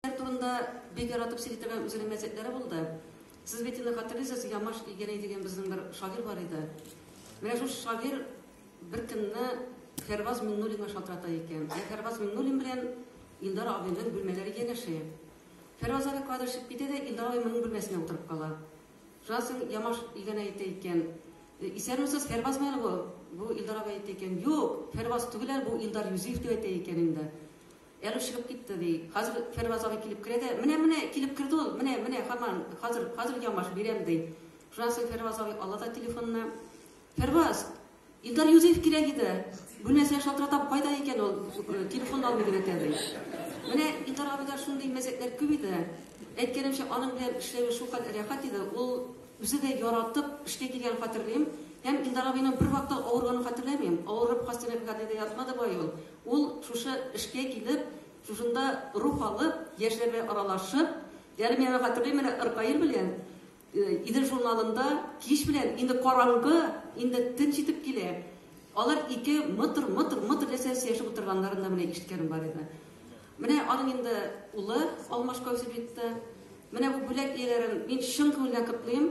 Сез турында бик яратып сөйли торган үзенең мәзәкләре булды. Сез бит инде хатерлисез, Ямаш Игәнәй дигән безнең бер шагир бар иде. Менә шул шагир бер көнне Фәрваз Миннулинга шалтырата икән. Ә Фәрваз Миннулин белән Илдар абыйның бүлмәләре янәшә. Фәрваз абый кадр чыгып китә дә Илдар абый моның бүлмәсенә утырып кала. Шуннан Ямаш Игәнәй әйтә икән, «Э, Исәнмесез, Фәрваз мәл бу? Бу Илдар абый әйтә икән, Юк, Фәрваз түгел, бу Илдар Юзиев дип әйтә икән инде. Әле чыгып китте, ди. Хәзер Фәрваз абый килеп керә дә, Менә, менә, килеп керде ул, менә, менә, һаман, хәзер, хәзер ямаш бирәм, ди. Шуннан соң Фәрваз абый ала да телефонны. Фәрваз! Илдар Юзеев кирәк иде. Бу нәрсә шалтыратам, кайда икән ул? Телефон алмый дип әйтә, ди. Менә Илдар абыйда шундый мәзәкләр күп иде. Әйткәнемчә, аның белән эшләве шулкадәр рәхәт иде, ул үзе дә яратып эшкә килгәнен хәтерлим. Һәм Илдар абыйның бервакытта авырганын хәтерләмим. Авырып, хастаханәдә ятмады бай ул. Ул шушы эшкә килеп, шушында рух алып, яшьләр белән аралашып, әле мин аны хәтерлим, менә Ркаил белән Идел журналында кич белән, инде караңгы, инде төн җитеп килә, алар ике мытыр, мытыр, мытыр ясәп сөйләшеп утырганнарын да менә ишеткәнем бар иде. Менә аның инде улы Алмаш Каусибитта. Менә бу бүләк ияләрен мин чын күңелдән котлыйм.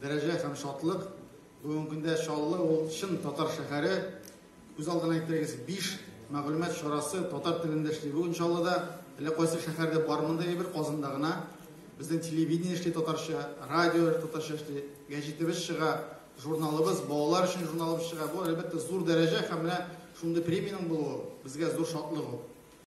Дәрәҗә һәм шатлык. Бүгенге көндә Чаллы ул чын татар шәһәре. Күз алдына китерегез, биш мәгълүмат чарасы татар телендә эшли бүген Чаллыда. Әллә кайсы шәһәрдә бар мондай әйбер, Казанда гына. Безнең телевидение эшли татарча, радио татарча эшли, гәҗитебез чыга, журналыбыз, балалар өчен журналыбыз чыга. Бу, әлбәттә, зур дәрәҗә һәм менә шундый премиянең булуы безгә зур шатлык ул.